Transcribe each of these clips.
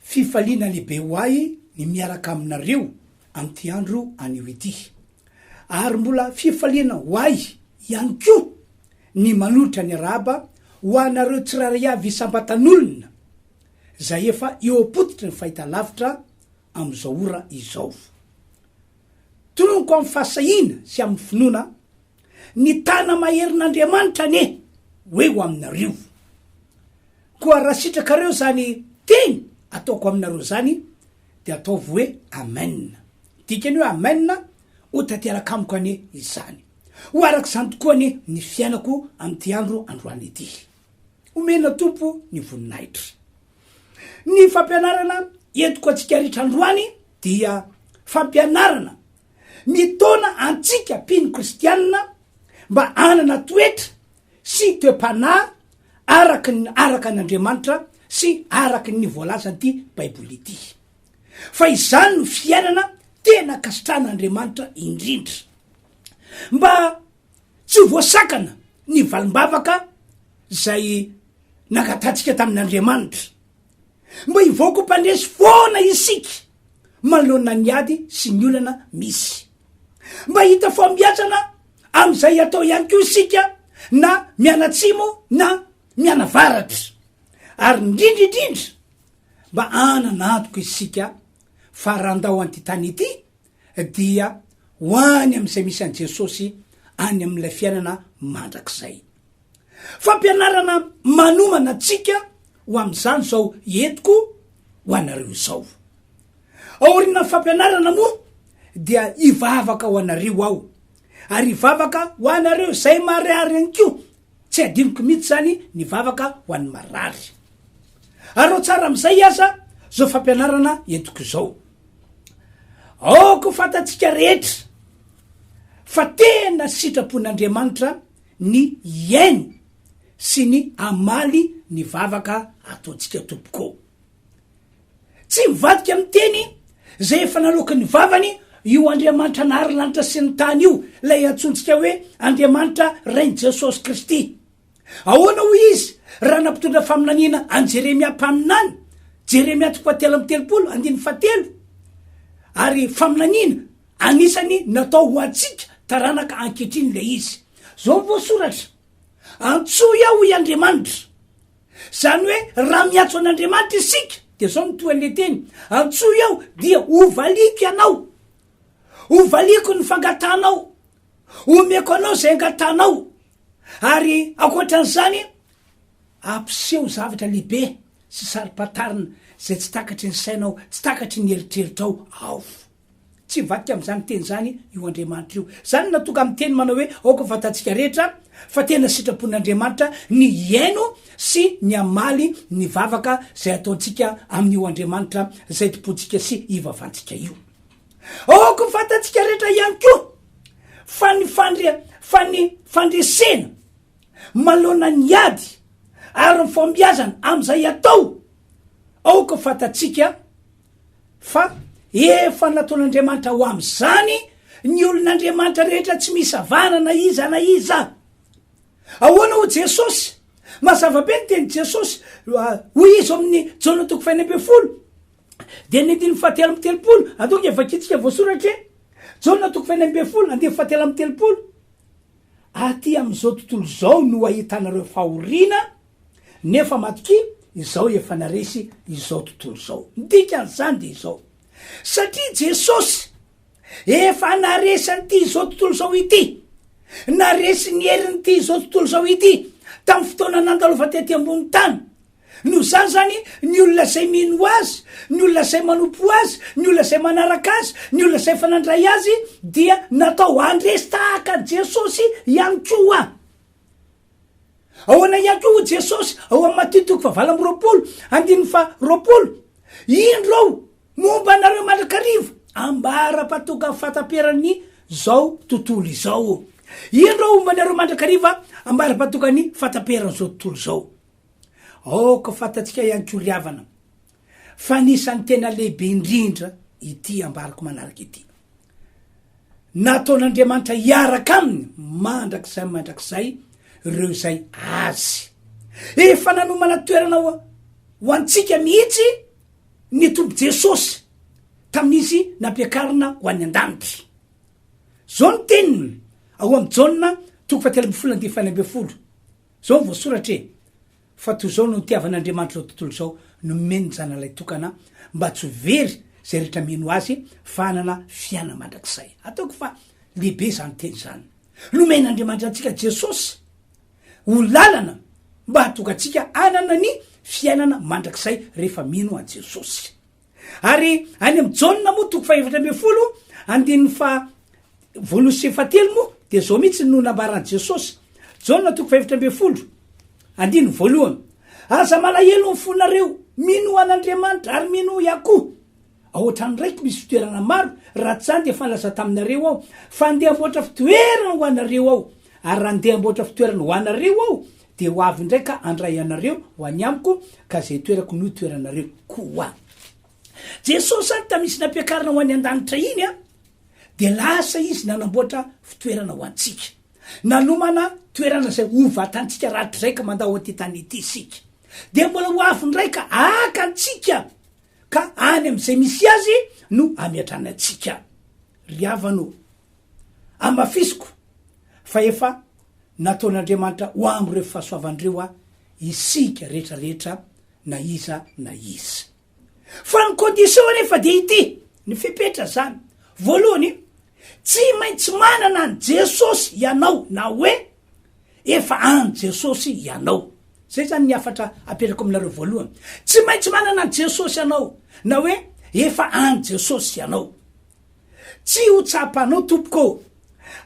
Fifaliana lehibe ho ahy ny miaraka aminareo amin'ity andro anio ity. Ary mbola fifaliana ho ahy ihany koa ny manolotra ny arahaba ho anareo tsirairay avy isam-batan'olona izay efa eo am-pototry ny fahitalavitra amin'izao ora izao. Tononiko amin'ny fahasahiana sy amin'ny finoana Ny tana maherin'Andriamanitra anie ho eo aminareo. Koa raha sitrakareo izany teny ataoko aminareo izany, dia ataovy hoe Amen. Dikan'ny hoe Amen, ho tanteraka amiko anie izany. Ho araka izany tokoa anie ny fiainako amin'ity andro androany ity. Omena Tompo ny voninahitra. Ny fampianarana entiko antsika rehetra androany dia fampianarana Mitaona antsika mpino kristianina mba hanana toetra sy toe-panahy araka ny araka an' Andriamanitra sy araka ny voalazan'ity Baiboly ity. Fa izany no fiainana tena ankasitrahan' Andriamanitra indrindra. Mba tsy ho voasakana ny valim-bavaka izay nangatantsika tamin' Andriamanitra. Mba hivoaka ho mpandresy foana isika manoloana ny ady sy ny olana misy. Mba hita fahombiazana amin'izay atao ihany koa isika na mianatsimo na mianavaratra. Ary indrindra indrindra mba hanana antoko isika fa raha handao an'ity tany ity dia ho any amin'izay misy an'i Jesosy any amin'ilay fiainana mandrakizay. Fampianarana manomana antsika ho amin'izany izao entiko ho anareo izao. Aorianan'ny fampianarana moa dia hivavaka ho anareo aho, ary hivavaka ho anareo izay marary ihany koa Tsy hadinoko mihitsy zany ny vavaka ho an'ny marary. Arao tsara amin'izay aza zao fampianarana entiko izao. Aoka ho fantatsika rehetra fa tena sitrapon'Andriamanitra ny hihaino sy ny hamaly ny vavaka ataontsika tompoko ô. Tsy mivadika amin'ny teny izay efa naloaky ny vavany io Andriamanitra nahary ny lanitra sy ny tany io, ilay antsointsika hoe Andriamanitra Rain'i Jesosy Kristy. Ahoana hoy izy raha nampitondra faminaniana an'i Jeremia mpaminany, Jeremia toko fahatelo amby telopolo, andininy fahatelo? Ary faminaniana anisany natao ho antsika taranaka ankehitriny ilay izy. Izao ny voasoratra, Antsoy aho, hoy Andriamanitra. Izany hoe raha miantso an'Andriamanitra isika dia izao no toa ilay teny, Antsoy aho dia hovaliako ianao, hovaliako ny fangatahanao, homeko anao izay angatahanao, ary ankoatran'izany hampiseho zavatra lehibe sy saro-pantarina izay tsy takatry ny sainao, tsy takatry ny eritreritrao aho. Tsy mivadika amin'izany teny izany io Andriamanitra io. Izany no nahatonga amin'ny teny manao hoe aoka ho fantatsika rehetra fa tena sitrapon'Andriamanitra ny hihaino sy ny hamaly ny vavaka izay ataontsika amin'io Andriamanitra izay tompointsika sy ivavantsika io. Aoka ho fantatsika rehetra ihany koa fa ny fandre, fa ny fandresena manoloana ny ady ary ny fahombiazana amin'izay atao, aoka ho fantatsika, Fa efa nataon'Andriamanitra ho amin'izany ny olon'Andriamanitra rehetra tsy misy avahana na iza na iza. Ahoana hoy Jesosy? Mazava be ny tenin'i Jesosy. Hoy izy ao amin'ny Jaona toko fahenina ambin'ny folo, dia ny andininy fahatelo amby telopolo. Atao nge vakintsika voasoratra e! Jaona toko fahenina ambin'ny folo, andininy fahatelo amby telopolo. Aty amin'izao tontolo izao no ahitanareo fahoriana, Nefa matokia izao efa naresy izao tontolo izao. Ny dikan'izany dia izao, satria Jesosy efa naresy an'ity izao tontolo izao ity, naresy ny herin'ity izao tontolo izao ity tamin'ny fotoana nandalova tety ambony tany. Noho izany izany, ny olona izay mino azy, ny olona izay manompo azy, ny olona izay manaraka azy, ny olona izay efa nandray azy dia natao handresy tahaka an'i Jesosy ihany koa. Ahoana ihany koa hoy Jesosy ao amin'ny Matio toko fahavalo amby roapolo andininy faharoapolo, Indro aho momba anareo mandrakariva ambara-patoka fahataperan'ny zao tontolo izao. Indro aho homba anareo mandrakariva ambara-patokan'ny fahataperan'izao tontolo izao. Aoka ho fantatsika ihany koa ry havana, fa anisan'ny tena lehibe indrindra ity ambarako manaraka ity. Nataon'Andriamanitra hiaraka aminy mandrakizay mandrakizay ireo izay azy. Efa nanomana toerana ho antsika mihitsy ny tompo Jesosy tamin'izy nampiakarina ho an'ny an-danitra. Zao ny teniny ao amin'ny Jaona toko fahatelo ambin'ny folo andininy fahenina ambin'ny folo. Zao ny voasoratra e. Fa toy izao no itiavan'Andriamanitra izao tontolo izao, nomeny ny Zanany Ilay Tokana, mba tsy ho very izay rehetra mino Azy, fa hanana fiainana mandrakizay. Ataoko fa lehibe izany teny izany. Nomen'Andriamanitra antsika Jesosy ho lalana mba hahatonga antsika hanana ny fiainana mandrakizay rehefa mino an'i Jesosy. Ary any amin'ny Jaona moa toko fahefatra ambin'ny folo andininy fa voalohany sy fatelo moa dia zao mihitsy no nambaran'i Jesosy. Jaona toko fahefatra ambin'ny folo andininy voalohany. Aza malahelo ny fonareo, mino an'Andriamanitra ary mino ahy koa. Ao an-trano raiky misy fitoerana maro, raha tsy izany dia efa nilaza taminareo aho fa handeha hamboatra fitoerana ho anareo aho. Ary raha handeha hamboatra fitoerana ho anareo aho Dia ho avy indray ka handray anareo ho any amiko, ka izay itoerako no itoeranareo koa. Jesosy ary tamisy nampiakarina ho any andanitra iny a, dia lasa izy nanamboatra fitoerana ho antsika. Nanomana toerana izay ho vatantsika rakitrizay ka mandao aty tany ity isika. Dia mbola ho avy indray ka haka antsika, ka any amizay misy azy no hameatrany antsika. Ry havana o, amafisiko fa efa nataon'Andriamanitra ho amin'ireo fahasoavany ireo aho, isika rehetra rehetra na iza na iza. Fa ny condition anefa dia ity, ny fepetra izany, voalohany, tsy maintsy manana an'i Jesosy ianao na hoe efa an'i Jesosy ianao. Izay izany ny hafatra apetrako aminareo voalohany. Tsy maintsy manana an'i Jesosy ianao na hoe efa an'i Jesosy ianao. Tsy ho tsapanao tompoko ô!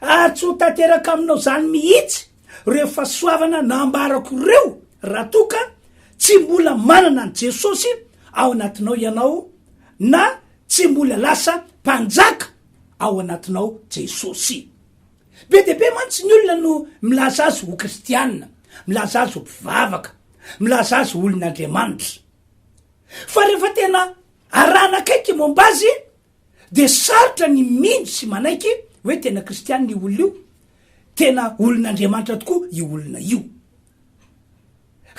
Ary tsy ho tanteraka aminao zany mihitsy reo fasoavana nambarako reo raha toa ka tsy mbola manana an'i Jesosy ao anatinao ianao na tsy mbola lasa mpanjaka ao anatinao Jesosy. Be dia be mantsy ny olona no milaza azy ho kristiana, milaza azy ho mpivavaka, milaza azy ho olon'Andriamanitra. Fa rehefa tena arahana akaiky momba azy Dia sarotra ny mino sy manaiky hoe tena kristianina io olona io, tena olon'Andriamanitra tokoa io olona io.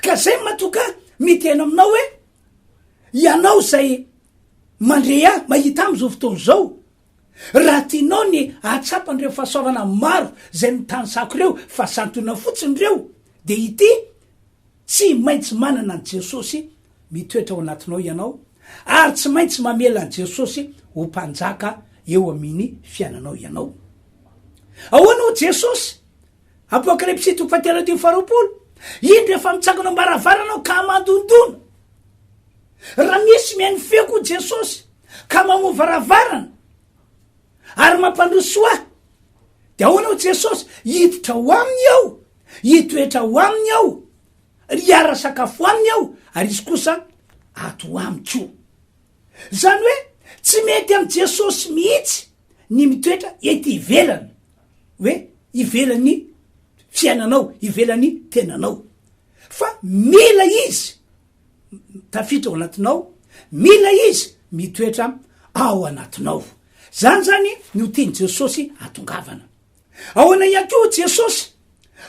Ka zay mato ka miteny aminao hoe ianao zay mandre ahy, mahita ahy amzao fotoana zao, raha tianao ny ahatsapa an'ireo fahasoavana maro zay nitanisako ireo fa santionao fotsiny ireo dia ity, Tsy maintsy manana an'i Jesosy mitoetra ao anatinao ianao, ary tsy maintsy mamela an'i Jesosy ho Mpanjaka eo amin'ny fiainanao ianao. Ahoana hoy Jesosy? Apokalypsy toko fahatelo andininy faharoapolo, Indro efa mitsangana ao am-baravarana aho ka mandondona. Raha misy mihaino feoko hoy Jesosy ka mamoha varavarana ary mampandroso ahy, dia ahoana hoy Jesosy? Hiditra ao aminy aho Hitoetra ao aminy aho, ary hiara-sakafo aminy aho, ary izy kosa ato amiko. Izany hoe tsy mety amin'i Jesosy mihitsy ny mitoetra ety ivelany, hoe ivelan'ny fiainanao, ivelan'ny tenanao. Fa mila Izy tafiditra ao anatinao, mila Izy mitoetra ao anatinao. Izany izany no tian'i Jesosy hatongavana. Ahoana ihany koa hoy Jesosy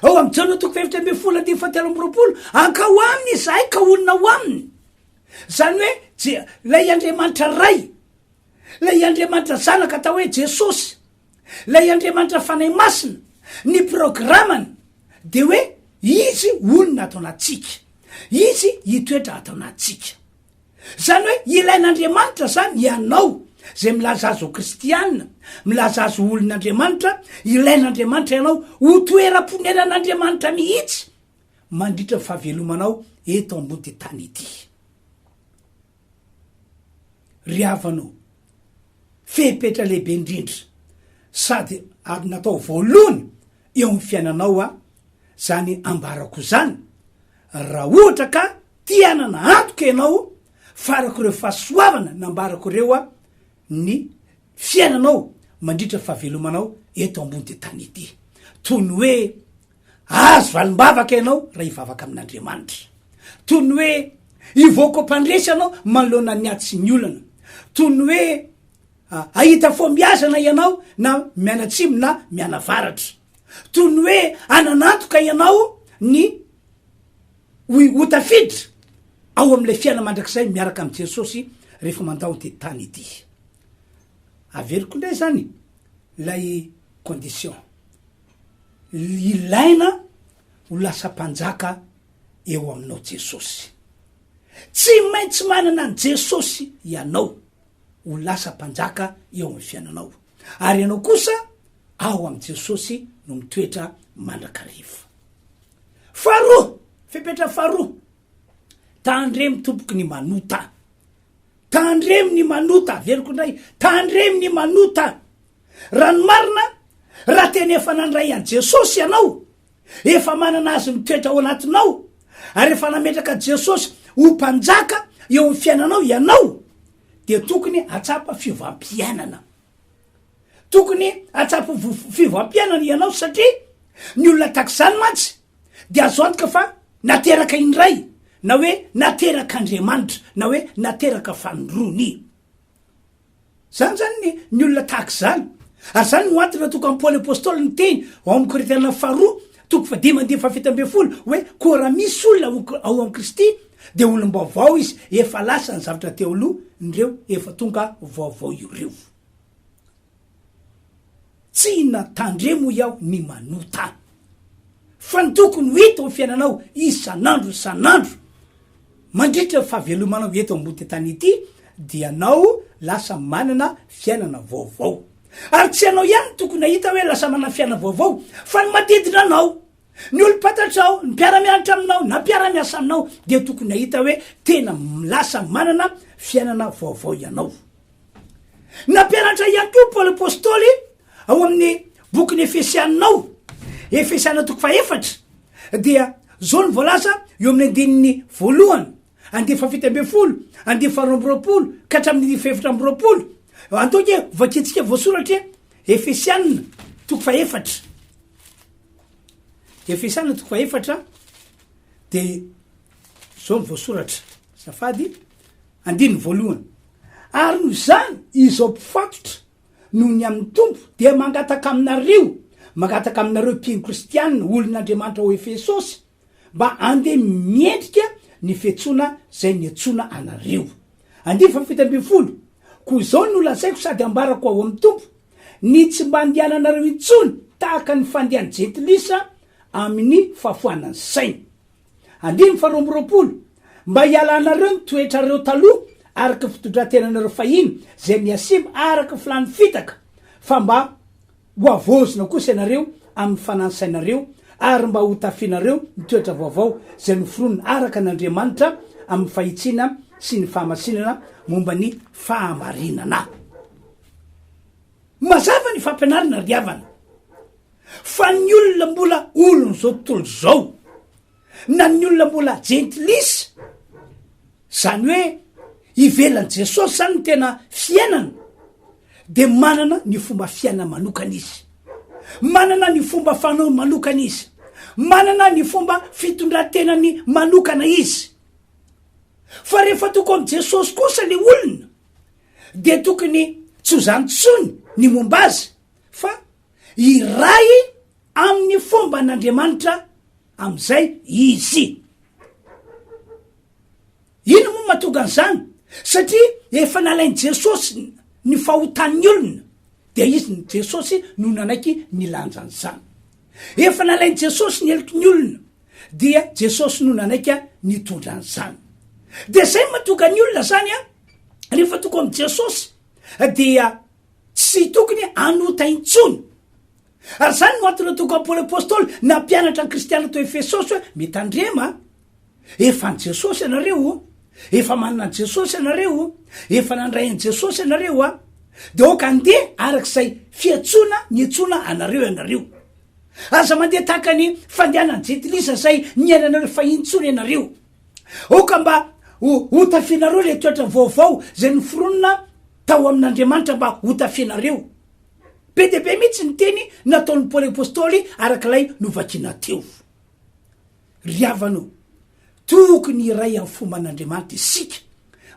ao amin'ny Jaona toko fahefatra ambin'ny folo andininy fahatelo amby roapolo, Ankao aminy izahay ka honina ao aminy. Izany hoe Je- ilay Andriamanitra Ray, ilay Andriamanitra Zanaka atao hoe Jesosy, ilay Andriamanitra Fanahy Masina, ny programany dia hoe izy honina ato anatintsika, izy hitoetra ato anatintsika. Zany hoe ilain'Andriamanitra zany ianao zay milaza azy ho kristiana, milaza azy ho olon'Andriamanitra, ilain'Andriamanitra ianao ho toeram-poneran'Andriamanitra mihitsy mandritra ny fahavelomanao eto ambody tany ity. Ry havana o, fepetra lehibe indrindra sady ary natao voalohany eo amin'ny fiainanao a, zany ambarako izany raha ohatra ka te hanana antoka ianao fa araka ireo fahasoavana nambarako ireo a, ny fiainanao mandritra ny fahavelomanao eto ambody tany ity. Toy ny hoe azo valim-bavaka ianao raha hivavaka amin'Andriamanitra. Toy ny hoe hivoaka ho mpandresy ianao manoloana ny ady sy ny olana. Toy ny hoe Hahita fo miazana ianao na mianatsimo na mianavaratra. Toy ny hoe hananantoka ianao ny ho ho tafiditra ao amin'ilay fiaina mandrakizay miaraka amin'i Jesosy rehefa mandao ity tany ity. Averiko indray izany ilay condition. Ilaina ho lasa mpanjaka eo aminao Jesosy. Tsy maintsy manana an'i Jesosy ianao. ho lasa mpanjaka eo amin'ny fiainanao, ary ianao kosa ao amin'i Jesosy no mitoetra mandrakariva. Faharoa, fepetra faharoa, tandremo tompoky ny manota. Tandremo ny manota, averiko indray, tandremo ny manota. Raha ny marina, raha tena efa nandray an'i Jesosy ianao, efa manana Azy mitoetra ao anatinao, ary efa nametraka Jesosy ho Mpanjaka eo amin'ny fiainanao ianao, dia tokony hahatsapa fiovam-piainana. Tokony hahatsapa fiovam-piainana ianao satria ny olona tahaka izany mantsy dia azo antoka fa nateraka indray, na hoe naterak'Andriamanitra, na hoe nateraka fanondroany. Izany izany ny ny olona tahaka izany. Ary izany no antony nahatonga an'i Paoly Apôstôly niteny ao amin'ny Korintiana faharoa toko fahadimy andininy fahafito ambin'ny folo hoe, Koa raha misy olona ao ao amin'i Kristy, dia olom-baovao izy, efa lasa ny zavatra teo aloha, ny ireo efa tonga vaovao ireo. Tsy inona tandremo hoy aho ny manota fa ny tokony ho hita ao fiainanao isan'andro isan'andro mandritra ny fahavelomanao eto ambony tany ity dia anao lasa manana fiainana vaovao ary tsy anao ihany no tokony hahita hoe lasa manana fiainana vaovao fa ny manodidina anao ny olom-pantatrao ny mpiara-mianatra aminao na mpiara-miasa aminao dia tokony hahita hoe tena lasa manana fiainana vaovao ianao Nampianatra ihany koa Paoly Apôstôly ao amin'ny bokin'ny Efesiana ao, Efesiana toko fahefatra, dia zao ny voalaza eo amin'ny andininy voalohany, andiany fahafito ambin'ny folo, andininy faharoa amby roapolo ka hatramin'ny andininy fahefatra amby roapolo. Antoky e, vakintsika voasoratra e, Efesiana toko fahefatra. Efesiana toko fahefatra dia zao ny voasoratra, safady. Andininy voalohany, Ary noho izany izao mpifatotra noho ny amin'ny Tompo dia mangataka aminareo, mangataka aminareo mpino kristiana, olon'Andriamanitra ao Efesosy, mba andeha miendrika ny fiantsoana izay niantsoana anareo. Andininy fahafito ambin'ny folo, Koa izao no lazaiko sady ambarako ao amin'ny Tompo, ny tsy mba andehananareo intsony tahaka ny fandehan'ny jentilisa amin'ny fahafoanan'ny sainy. Andininy faharoa amby roapolo, Mba hialanareo ny toetrareo taloha araka ny fitondran-tenanareo fahiny izay mihasimba araka ny filàn'ny fitaka, fa mba hohavaozina kosa ianareo amin'ny fanan'ny sainareo, ary mba hotafianareo ny toetra vaovao izay noforonina araka an'Andriamanitra amin'ny fahitsiana sy ny fahamasinana momba ny fahamarinana. Mazava ny fampianarana ry havana. Fa ny olona mbola olon'izao tontolo izao, na ny olona mbola jentilisa, izany hoe ivelan'i Jesosy izany ny tena fiainana, dia manana ny fomba fiainana manokana izy, manana ny fomba fanaony manokana izy, manana ny fomba fitondran-tenany manokana izy. Fa rehefa toko amin'i Jesosy kosa ilay olona, dia tokony tsy ho izany intsony ny momba azy, fa Iray amin'ny fomban'Andriamanitra amin'izay izy. Inona moa mahatonga an'izany? Satria efa nalain'i Jesosy ny fahotan'ny olona, dia izy ny Jesosy no nanaiky nilanja an'izany. Efa nalain'i Jesosy ny heloky ny olona, dia Jesosy no nanaiky nitondra an'izany. Dia izay mahatonga ny olona izany, rehefa tonga amin'i Jesosy, dia Tsy tokony hanota intsony. Ary izany no antony nataoko Paoly Apostoly nampianatra ny kristiana tao Efesosy hoe, Mitandrema, efa an'i Jesosy ianareo o, efa manana an'i Jesosy ianareo o, efa nandray an'i Jesosy ianareo a, dia aoka handeha araka izay fiantsoana niantsoana anareo ianareo. Aza mandeha tahaka ny fandehanan'ny jentilisa izay niainanareo fahiny intsony ianareo. Aoka mba ho hotafianareo ilay toetra vaovao izay noforonina tao amin'Andriamanitra mba hotafianareo. Be dia be mihitsy ny teny nataon'i Paoly Apostoly araka ilay novakiana teo. Ry havana o, tokony hiray amin'ny foman'Andriamanitra isika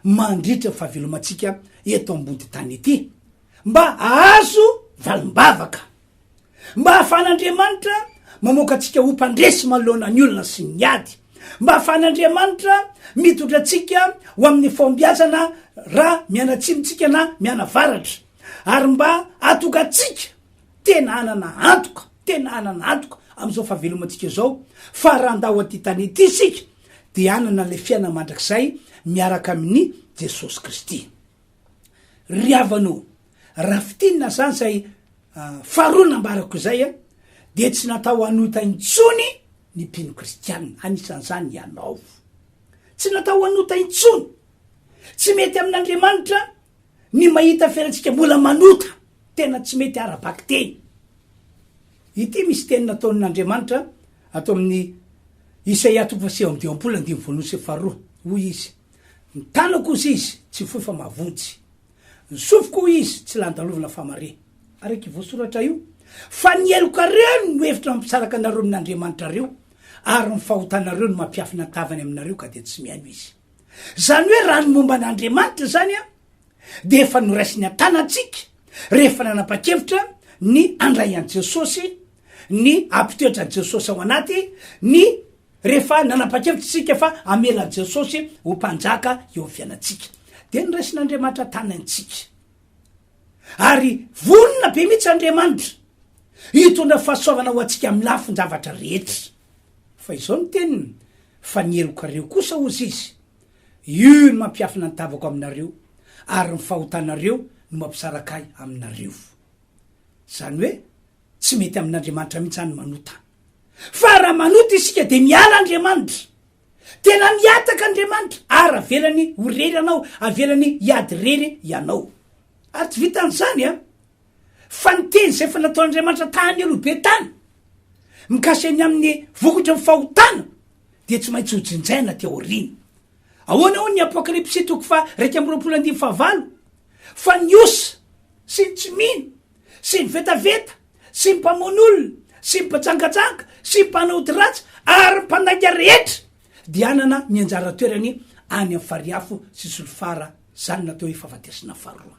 mandritra ny fahavelomantsika eto ambody tany ety mba hahazo valim-bavaka. Mba ahafahan'Andriamanitra mamoaka antsika ho mpandresy manoloana ny olona sy ny ady. Mba ahafahan'Andriamanitra mitondra antsika ho amin'ny fahombiazana raha mianatsimo tsika na mianavaratra. Ary mba hahatonga antsika tena hanana antoka, tena hanana antoka amin'izao fahavelomantsika izao, fa raha handao an'ity tany ity isika dia hanana ilay fiainana mandrakizay miaraka amin'i Jesosy Kristy. Ry havana o, raha fintinina izany izay faharoa nambarako izay dia tsy natao hanota intsony ny mpino kristianina, anisan'izany ianao. Tsy natao hanota intsony. Tsy mety amin'Andriamanitra ny mahita fiainantsika mbola manota, tena tsy mety ara-bakiteny. Ity misy teny nataon'Andriamanitra ato amin'ny Isaia toko fahasivy amby dimampolo andininy voalohany sy faharoa, hoy izy, Ny tanako hozy izy tsy fohy fa mavonjy. Ny sofiko hoy izy tsy landalovina fa mare. Araka io voasoratra io, Fa ny helokareo no hevitra mampisaraka anareo amin'Andriamanitrareo, ary ny fahotanareo no mampiafina tavany aminareo ka dia tsy mihaino izy. Izany hoe raha ny momba an'Andriamanitra izany dia efa noraisiny an-tanantsika rehefa nanapa-kevitra ny handray an'i Jesosy, ny hampitoetra an'i Jesosy ao anaty ny. Rehefa nanapa-kevitra isika fa hamela an'i Jesosy ho Mpanjaka eo amin'ny fiainantsika, dia noraisin'Andriamanitra tany antsika. Ary vonona be mihitsy Andriamanitra hitondra fahasoavana ho antsika amin'ny lafin-javatra rehetra. Fa izao ny teniny, Fa ny helokareo kosa, hozy izy, io no mampiafina ny tavako aminareo, ary ny fahotanareo no mampisaraka ahy aminareo. Izany hoe tsy mety amin'Andriamanitra mihitsy izany ny manota. Fa raha manota isika dia miala Andriamanitra. Tena mihataka Andriamanitra ary avelany ho rery anao, avelany hiady rery ianao. Ary tsy vitan'izany an! Fa ny teny izay efa nataon'Andriamanitra tahan'ny aloha be tany, mikasika ny amin'ny vokatry ny fahotana, dia tsy maintsy hojinjaina aty aoriana. Ahoana hoy ny Apokalypsy toko faha iraika amby roapolo andininy fahavalo? Fa ny osa sy ny tsy mino sy ny vetaveta, sy ny mpamono olona, sy ny mpajangajanga, sy ny mpanao ody ratsy, ary ny mpandainga rehetra, dia hanana ny anjara toerany any amin'ny fary afo sy solifara, izany no atao hoe fahafatesana faharoa.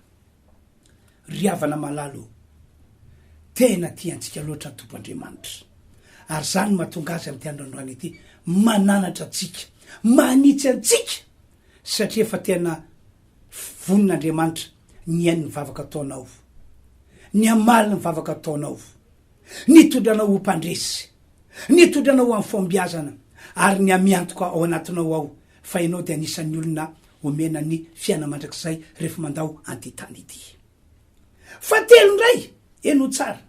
Ry havana malala o, tena tiantsika loatra ny Tompo Andriamanitra, ary izany no mahatonga Azy amin'ity androandroany ity mananatra antsika, manitsy antsika, satria efa tena Vonin'Andriamanitra ny haino ny vavaka ataonao, ny hamaly ny vavaka ataonao, ny hitondra anao ho mpandresy, ny hitondra anao ho amin'ny fahombiazana ary ny hamiantoka ao anatinao ao fa ianao dia anisan'ny olona omena ny fiainana mandrakizay rehefa mandao an'ity tany ity. Fahatelo indray, henoy tsara,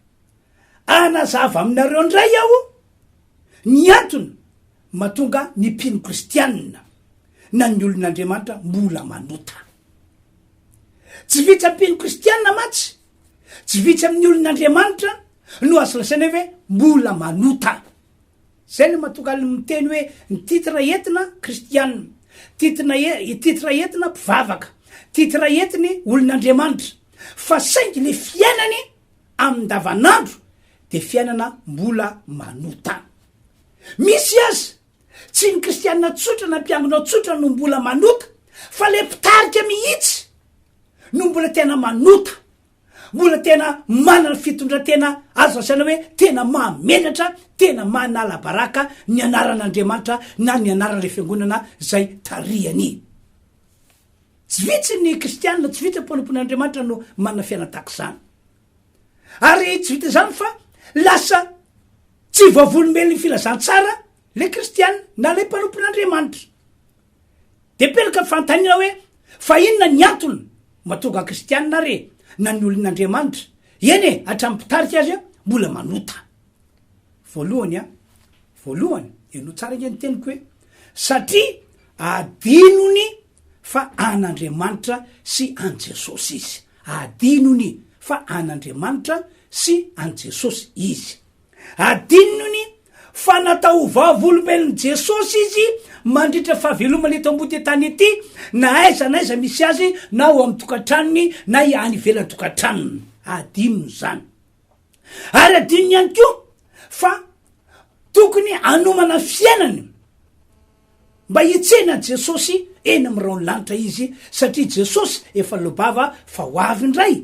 hanazava aminareo indray aho ny antony Mahatonga ny mpino kristianina na ny olon'Andriamanitra mbola manota. Tsy vitsy amin'ny mpino kristianina mantsy, tsy vitsy amin'ny olon'Andriamanitra no azo lazaina hoe ve mbola manota. Izay no mahatonga ny miteny hoe ny titre entina kristianina, titre e, titre entina mpivavaka, titre entiny olon'Andriamanitra. Fa saingy le fiainany amin-davanandro dia fiainana mbola manotana. Misy aza, tsy ny kristiana tsotra na mpiangona tsotra no mbola manota, fa ilay mpitarika mihitsy no mbola tena manota, mbola tena manana fitondran-tena azo lazaina hoe tena mahamenatra, tena manalabaraka ny anaran'Andriamanitra na ny anaran'ilay fiangonana izay tarihany. Tsy vitsy ny kristiana, tsy vitsy ny mpanompon'i Andriamanitra no manana fiainana tahaka izany. Ary tsy vita izany fa lasa tsy vavolombelon'ny filazantsara le kristiana na le mpanompon'i Andriamanitra. De pelaka fanontaniana hoe fa inona ny antony matonga kristiana re na ny olon'Andriamanitra, eny e hatramin'ny mpitarika aza mbola manota. Voalohany a, voalohany, henoy tsara ange ny teniko hoe, satria adinony fa an'Andriamanitra sy an'i Jesosy izy. Adinony fa an'Andriamanitra sy an'i Jesosy izy. Adinony fa natao ho vavolombelon'i Jesosy izy mandritra ny fahavelomany eto ambody tany ity, na aiza na aiza misy azy, na ao amin'ny tokantranony, na any ivelan-tokantranony. Adinony izany. Ary adinony ihany koa fa tokony hanomana fiainany mba hitsena an'i Jesosy eny amin'ny rahon'ny lanitra izy satria Jesosy efa lobava fa ho avy indray,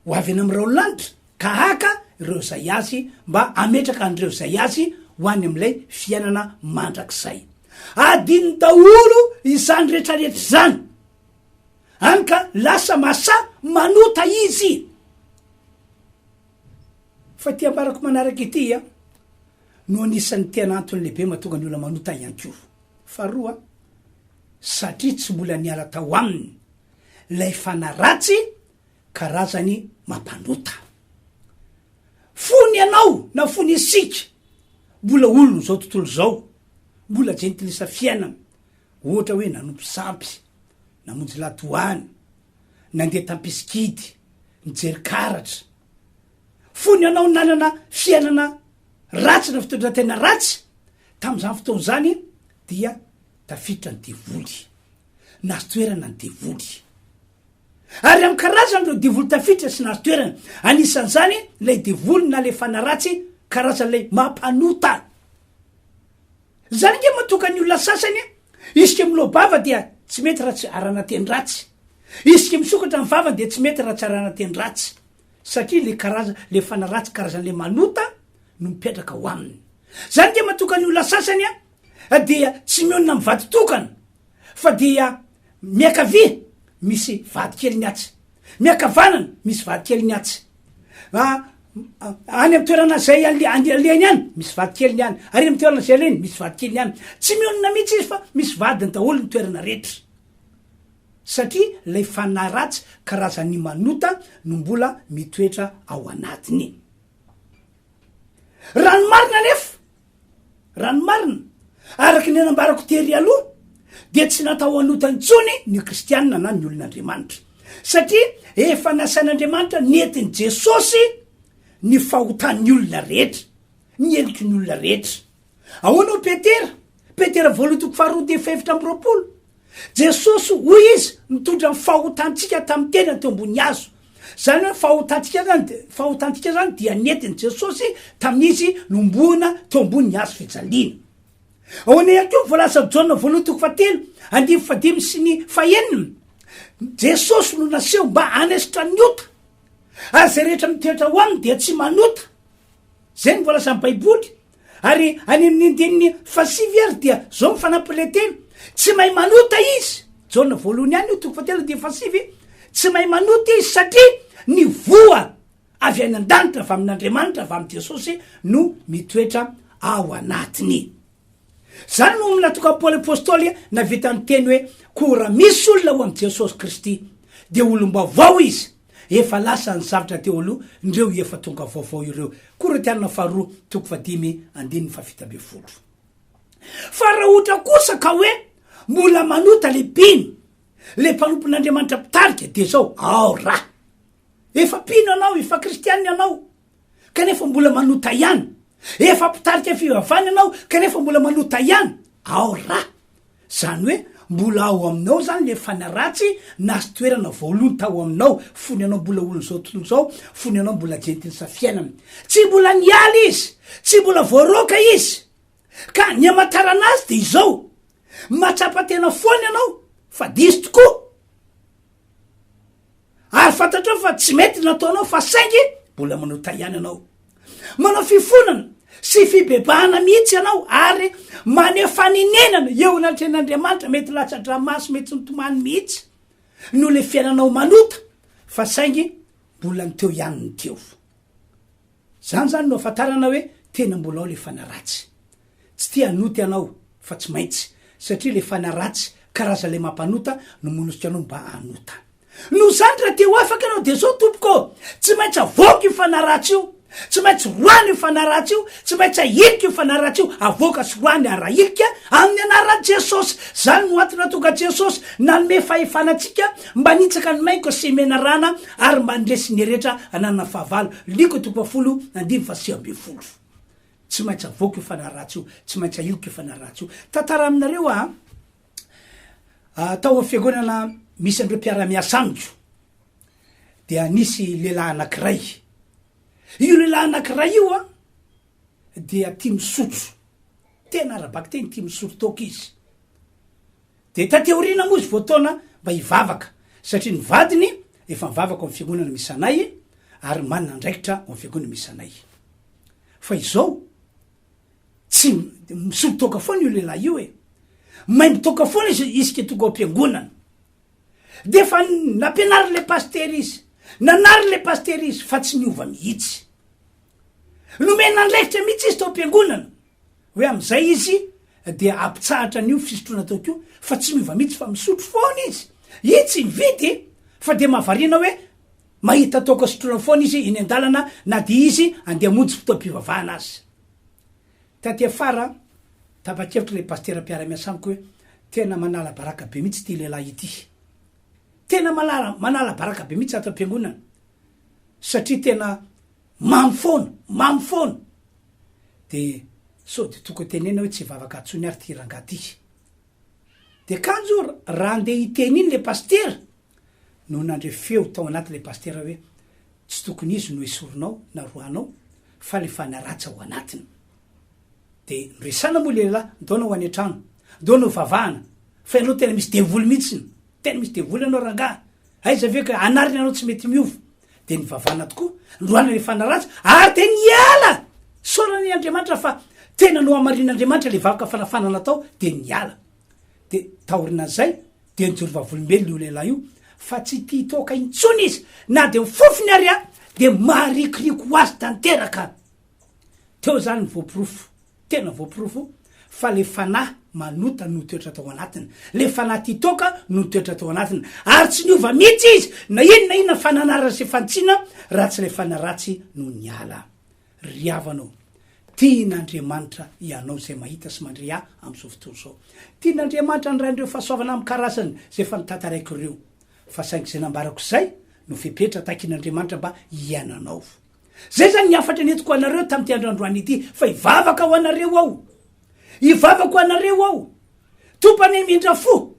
ho avy eny amin'ny rahon'ny lanitra ka haka ireo izay azy mba hametraka an'ireo izay azy ho any amin'ilay fiainana mandrakizay. Adinony daholo izany rehetrarehetra izany. any ka lasa masa manota izy fa ty ambarako manaraka ity a no anisan'ny tena antony lehibe mahatonga ny olona manota ihany ko faharoa satria tsy mbola niala tao aminy lay fanaratsy karazany mampanota fony ianao na fony isika mbola olony zao tontolo zao mbola jentilisa fiainana ohatra hoe nanompo sampy namonjy ladoany, nandeha tam-pisikidy, nijery karatra. Fony ianao nanana fiainana ratsy na fitondran-tena ratsy, tamin'izany fotoana izany dia tafiditra ny devoly, nahazo toerana ny devoly. Ary amin'ny karazany ireo devoly tafiditra sy nahazo toerana, anisan'izany ilay devoly na ilay fanaratsy, karazan'ilay mampanota. Zany ange matoka ny olona sasany a! Isika miloa-bava dia tsy mety raha tsy arahana teny ratsy. Isika misokatra ny vavany dia tsy mety raha tsy arahana teny ratsy. Satria le karaza, le fana ratsy karazan'le manota no mipetraka ao aminy. Zany ange matoka ny olona sasany a! dia tsy mionona amin'ny vaditokana fa dia miakavia misy vadikeliny atsy, miakavanana misy vadikeliny atsy, any amin'ny toerana izay alehany any misy vadikeliny any, ary amin'ny toerana izay alehany misy vadikeliny any. Tsy mionona mihitsy izy fa misy vadiny daholo ny toerana rehetra, satria ilay fanahy ratsy karazan'ny manota no mbola mitoetra ao anatiny. Raha ny marina anefa Raha ny marina, araka ny nambarako tery aloha, dia tsy natao hanota intsony ny Kristianina na ny olon'Andriamanitra, satria efa nasain'Andriamanitra nentin'i Jesosy ny fahotan'ny olona rehetra, ny heniky ny olona rehetra. Ahoana hoy Petera? Petera voalohany toko faharoa dia fahefatra amby roapolo. Jesosy, hoy izy, nitondra ny fahotantsika tamin'ny tenany teo ambony hazo, Izany hoe fahotantsika izany, fahotantsika izany dia nentin'i Jesosy tamin'izy nombohina teo ambonin'ny hazo fijaliana. Ahoana ihany koa ny voalazan'i Jaona voalohany toko fahatelo andininy fahadimy sy ny fahenina, Jesosy no naseho mba hanesotra ny ota, ary izay rehetra mitoetra ao aminy dia tsy manota. Izay no voalazan'ny Baiboly. Ary any amin'ny andininy fahasivy ary dia zao ny fanampilentena, tsy mahay manota izy, Jaona voalohany ihany io toko fahatelo andininy fahasivy, tsy mahay manota izy satria ny voa avy any an-danitra avy amin'Andriamanitra avy amin'i Jesosy no mitoetra ao anatiny. Izany no natokan'i Paoly Apostoly nahavita niteny hoe koa raha misy olona ao amin'i Jesosy Kristy dia olom-baovao izy, Efa lasa ny zavtra teo aloha ndreo efa tonga vaovao ireo. Koritiana faharoa toko fahadimy andininy fahafito ambin'ny folo. Fa raha ohatra kosa ka hoe mbola manota le mpino, le mpanompon'Andriamanitra mpitarika dia zao, ao ra! Efa mpino ianao, efa kristiana ianao, kanefa mbola manota ihany, efa mpitarika fivavahana ianao kanefa mbola manota ihany, ao ra! Zany hoe mbola ao aminao zany le fana ratsy nahazo toerana voalohany tao aminao, fony ianao mbola olon'izao tontolo izao, fony ianao mbola jentilsa fiainana. Tsy mbola niala izy, tsy mbola voaroaka izy, ka ny amatarana azy de izao, matsapa tena foana ianao fa diso tokoa. Ary fantatrao fa tsy mety ny nataonao fa saingy mbola manota ihany ianao. Manao fifonana sy fibebahana mihitsy ianao ary maneho fanenenana eo anatrehan'Andriamanitra, mety latsa-dranomaso mety nitomany mihitsy noho ilay fiainanao manota fa saingy mbola ny teo ihany ny teo. Izany izany no ahafantarana hoe tena mbola ao ilay fanaratsy. Tsy tia hanoty anao fa tsy maintsy satria le fana ratsy karaza le mampanota no monosika anao mba hanota noho zany ra te ho afaka anao de zao tompoko ô tsy maintsy avoako io fana ratsy io tsy maintsy roahina io fana ratsy io tsy maintsy ahilika io fana ratsy io avoaka sy roahina ary ahilika aminy anaran jesosy zany no antony natonga jesosy nanome fahefana antsika mba nitsaka ny mainko sy menarana ary mba nresy ny eretra ananana fahavalo liko toko fahafolo andiny faha sivy ambin'ny folo. Tsy maintsy avoako io fanahy ratsy io, tsy maintsy ahiliko io fanahy ratsy io. Tantara aminareo aho a, tao amin'ny fiangonana misy an'ireo mpiara-miasa amiko dia nisy lehilahy anankiray. Io lehilahy anankiray io a, dia tia misotro, tena ara-bakiteny tia misotro toaka izy. Dia taty aoriana moa izy voataona mba hivavaka satria ny vadiny efa mivavaka ao amin'ny fiangonana misy anay ary manana andraikitra ao amin'ny fiangonana misy anay. Fa izao, tsy, misolo toaka foana io lehilahy io e! Maimbo toaka foana izy isika tonga ao am-piangonana. Dia efa nampianarin'ilay pasitera izy, nanarin'ilay pasitera izy fa tsy niova mihitsy. Nomena andraikitra mihitsy izy tao am-piangonana Hoe amin'izay izy dia hampitsahatra an'io fisotroana toaka io fa tsy miova mihitsy fa misotro foana izy. I tsy nividy fa dia mahavariana hoe mahita toaka sotroina foana izy eny an-dalana na dia izy andeha hamonjy fotoam-pivavahana aza. Taty afara, tapa-kevitra ilay pasitera mpiara-miasa amiko hoe tena manala baraka be mihitsy ity lehilahy ity. Tena manala manala baraka be mihitsy ato am-piangonana satria tena Mamy foana! Mamy foana! De sao de tokony tenenina hoe tsy hivavaka intsony ary ty rangahy ty. De kanjo raha andeha hiteny iny le pasitera no nandre feo tao anaty le pasitera hoe tsy tokony izy no esorinao na rohanao fa le fanaratsa ao anatiny. De noresana moa le lehilahy, ntaona ho any an-trano, ntaona ho vavahana fa ianao tena misy devoly mihitsiny, tena misy devoly ianao rangahy, aiza ve ka anarina ianao tsy mety miova, de nivavana tokoa androany rehefa naratra ary de niala sorany andriamanitra fa tena no hamarin'andriamanitra le vavaka fanafana natao de niala de taorina zay de nyjorovavolombelo io lehilahy io fa tsy ti toaka intsony izy na de mifofony ary a de maharikoriko ho azy tanteraka teo zany ny voaporofo Tena voaporofo fa le fanahy manota no toetra tao anatiny, le fanahy tia toaka no toetra tao anatiny, ary tsy niova mihitsy izy na ino na inona fananarana sy fantsina raha tsy le fanahy ratsy no niala. Ry havana o! Tian'Andriamanitra ianao izay mahita sy mandre ahy amin'izao fotoana izao. Tian'Andriamanitra handray an'ireo fahasoavana amin'ny karazany izay efa notantaraiko ireo. Fa saingy izay nambarako izay no fepetra takin'Andriamanitra mba hiainanao. Zay zany ny hafatra nentiko ho anareo tamin'ity andro androany ity, fa hivavaka ho anareo aho. Hivavaka ho anareo aho. Tompo anie mindra fo.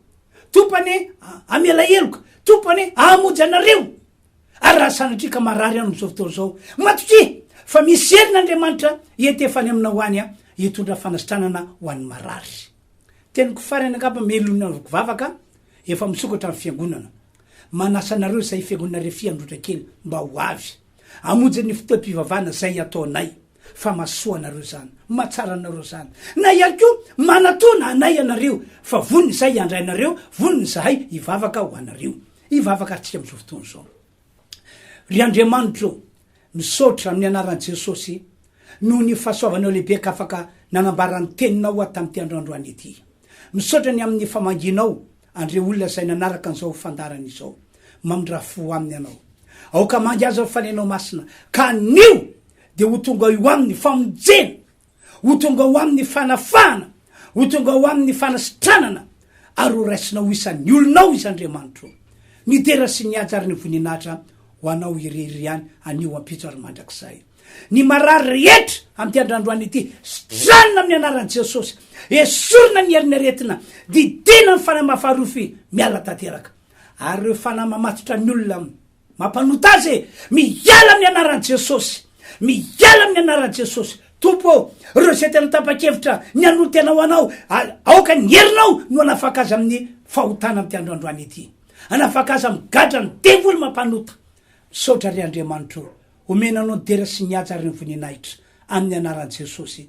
Tompo anie hamela heloka. Tompo anie hahamonjy anareo. Ary raha sanatria ka marary ianao amin'izao fotoana izao, matokia fa misy herin' Andriamanitra hietefany aminao any hitondra fanasitranana ho an'ny marary. Teniko farany angamba melona roky vavaka efa misokatra ny fiangonana. Manasa anareo zay fiangonana refy androtra kely mba ho avy. Amonjy ny fotoam pivavahana zay ataonay fa masoa anareo zany, matsara anareo zany. Na ihany koa manatona anay ianareo fa vonona izahay hiandrainareo, vonona izahay hivavaka ho anareo. Hivavaka atsika amizao fotoana zao. Ry Andriamanitro ô, misaotra amin'ny anaran'i Jesosy noho ny fahasoavanao lehibe ka afaka nanambara ny teninao aho tamin'ity andro androany ity. Misaotra ny amin'ny famangianao an'ireo olona izay nanaraka an'izao fandaharana izao. Mamindrà fo ho aminy ianao. Aoka hamangy azy ny fanahinao masina ka anio dia ho tonga eo aminy famonjena Ho tonga ho Aminy ny fanafahana, ho tonga ho Aminy ny fanasitranana, ary ho raisinao ho isan'ny olonao Izy Andriamanitro. Ny dera sy ny haja ary ny voninahitra ho Anao irery ihany anio, ampitso ary mandrakizay. Ny marary rehetra amin'ity andrandroany ity, sitranina amin'ny anaran'i Jesosy. Esorina ny herin'ny aretina, didiana ny fanahy mahafaha-rofy miala tanteraka. Ary ireo fanahy mamatotra ny olona Mampanota azy e! Miala amin'ny anaran'i Jesosy! Miala amin'ny anaran'i Jesosy! Tompo ô, ireo izay tena tapa-kevitra ny hanolo tena ho Anao, aoka ny herinao no hanafaka azy amin'ny fahotana amin'ity andro androany ity. Hanafaka azy amin'ny gadran'ny devoly mampanota. Misaotra ry Andriamanitro ô, omena Anao ny dera sy ny haja ary ny voninahitra, amin'ny anaran'i Jesosy.